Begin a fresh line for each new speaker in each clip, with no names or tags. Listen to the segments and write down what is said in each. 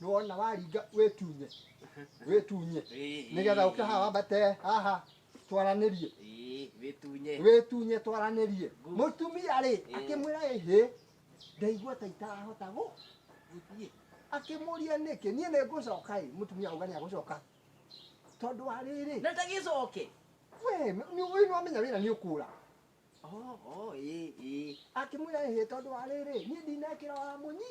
nĩwona waringa wĩtunye wĩtunye nĩgetha ũke haha wambate haha twaranĩrie Ĩĩ, wĩtunye wĩtunye twaranĩrie Good. mũtumia rĩ Eh. akĩmwĩra ĩhĩ ndaigua ta itarahota gũ gũthiĩ akĩmũria nĩkĩ niĩ nĩ ngũcoka ĩ mũtumia auga nĩ agũcoka tondũ wa rĩrĩ na ndagĩcoke we nĩwamenya wĩra nĩ ũkũra Oh, oh, ĩĩ, ĩĩ. akĩmwĩra ĩhĩ tondũ wa rĩrĩ niĩ ndinekĩra wa mũnyi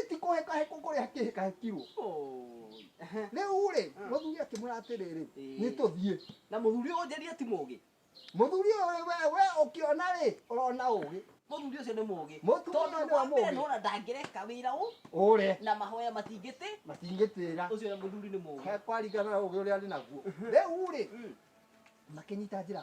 ĩti kũhekahekwo kũrĩa kĩhekahekirwo Oh, ehe. rĩu rĩ Mm. mũthuri akĩmwĩra atĩrĩrĩ Ĩĩ. nĩ tũthiĩ na mũthuri ũyũ njĩria ti mũgĩ mũthuri ũyũ we we ũkĩona rĩ ũrona ũgĩ mũthuri ũcio nĩ mũgĩ Mũtumia tondũ nĩ wa mũgĩ. nona ndangĩreka wĩra ũ ũre na mahoya matingĩtĩ matingĩtĩra ũcio nĩ mũthuri nĩ mũgĩ he kwarigana na ũgĩ ũrĩa arĩ naguo rĩu rĩ Mm. makĩnyita njĩra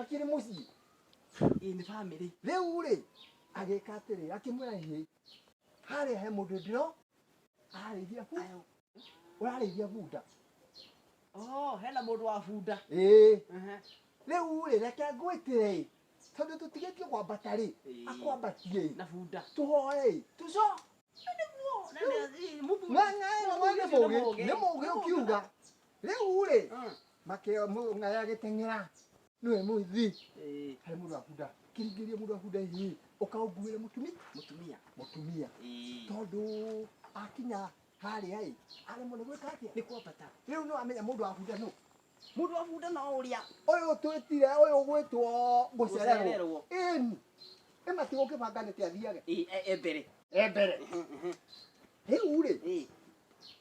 akĩrĩ mũciĩ ĩĩ nĩ bamĩrĩ rĩu rĩ agĩka atĩrĩ akĩmwĩra ĩĩ harĩa he mũndũ ndĩro ararĩithia bu ũrarĩithia bunda Oh, hena mũndũ wa bunda. ĩĩ Ehe. rĩu rĩ reke ngwĩtĩre ĩ tondũ tũtigĩtio kwambata rĩ Ĩĩ. akwambatie ĩ Na bunda. tũhoe ĩ tũco Na nĩ- ĩ, mũthuri- ng'ang'a ĩno mũthuri nĩ ũcio mũgĩ nĩ mũgĩ ũkiuga Rĩu-rĩ, makĩo mũndũ ng'aĩ agĩteng'era nĩwe mũithi Eh, harĩ mũndũ abunda kĩringĩria mũndũ abunda ĩ ũkaũnguĩre mũtumi mũtumia. mũtumia Eh, tondũ akinya harĩa ĩ aremwo nĩ gwĩka atĩa nĩ kwambata. rĩu no amenya mũndũ abunda nũ Mũndũ wa bunda no ũrĩa. ũyũ twĩtire ũyũ gwĩtwo gũcererwo Gũcererwo. ĩni ĩmati gũkĩbanga nĩkĩ athiage Eh, eh, eh, mbere. e mbere rĩu-rĩ Eh,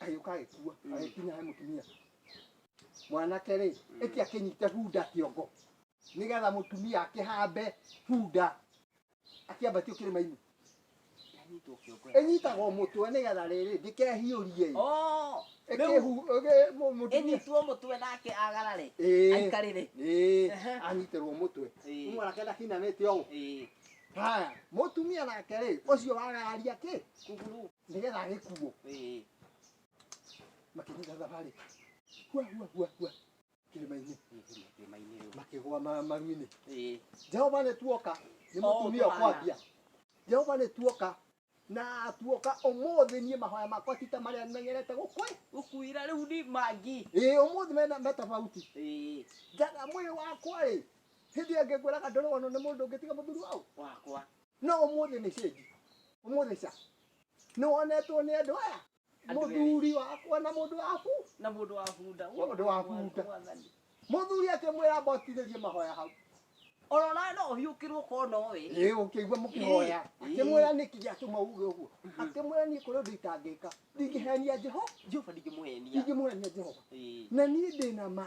agĩũka agĩkua agĩkinya he mũtumia mwanake rĩ ĩti akĩnyite bunda kĩongo nĩgetha mũtumia akĩhambe bunda akĩambatio kĩrĩma-inĩ Anyitwo kĩongo. ĩnyitagwo mũtwe nĩgetha rĩrĩ ndĩkehiũrie ĩ. Oh, rĩu Ĩkĩhu- ĩgĩ- mũ- mũtumia ĩnyitwo mũtwe nake agarare. Ĩĩ. Aikarĩre. Ĩĩ, Ehe. anyitĩrwo mũtwe Ĩĩ. Rĩu mwanake ndakinanĩte ũũ Ĩĩ. haya mũtumia nake rĩ ũcio wagararia kĩ Kuguru. nĩgetha agĩkuo Ĩĩ. makĩnyita thabarĩ hua hua hua hua kĩrĩma-inĩ Kĩrĩma-inĩ rĩu. makĩgwa ma- maru-inĩ Ĩĩ. jehova nĩ tuoka nĩ Oh, mũtumia twana. ũkwambia jehova nĩ tuoka na tuoka ũmũthĩ niĩ mahoya makwa ti ta marĩa menyerete gũkwĩ Gũkuira rĩu ni mangi. ĩĩ ũmũthĩ mena metabauti Ĩĩ. njaga mwĩrĩ wakwa rĩ hĩndĩ ĩyo ngĩkwĩraga ndũrĩ wonwo nĩ mũndũ ũngĩ tiga mũthuri wau Wakwa. no ũmũthĩ nĩ cĩnji ũmũthĩ ca nĩ wonetwo nĩ andũ aya Andũ erĩ. mũthuri wakwa na mũndũ waku na mũndũ wa bunda Mũndũ wa bunda. Mwathani. mũthuri akĩmwĩra amba ũtirĩrie mahoya hau orora no ũhiũkĩrwo korwo nowe ĩĩ ũkĩigua mũkĩhoya Ĩĩ. akĩmwĩra nĩkĩ gĩatũma uge ũguo akĩmwĩra niĩ kũrĩ ũndũ itangĩka ndingĩhenia jehova jehova ndingĩmũhenia ingĩmũhenia jehova Ĩĩ. na niĩ ndĩ na ma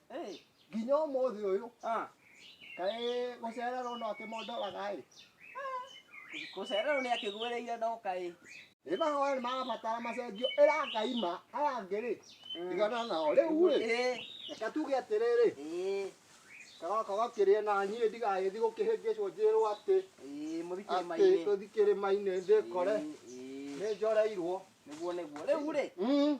Hey. nginya ũmũthĩ ũyũ Ah. kaĩ gũcererwo no akĩmondoraga ĩ Gũcererwo nĩ akĩgwĩrĩire ndoka ĩ. nĩ mahoya nĩ marabatara macenjio ĩra ngai ma aya angĩ rĩ ndigana nao rĩu rĩ Ĩ. reka tuge atĩrĩrĩ Ĩ. kagaka gakĩrĩe na niĩ ndigagĩthi gũkĩhĩngĩcwo njĩrwo atĩ Ĩ. Mũthikĩrĩ atĩ mainĩ. tũthikĩrĩ mainĩ ndĩkore Ĩ. Ĩ. nĩ njoreirwo Nĩguo nĩguo. Rĩu rĩ. Mm.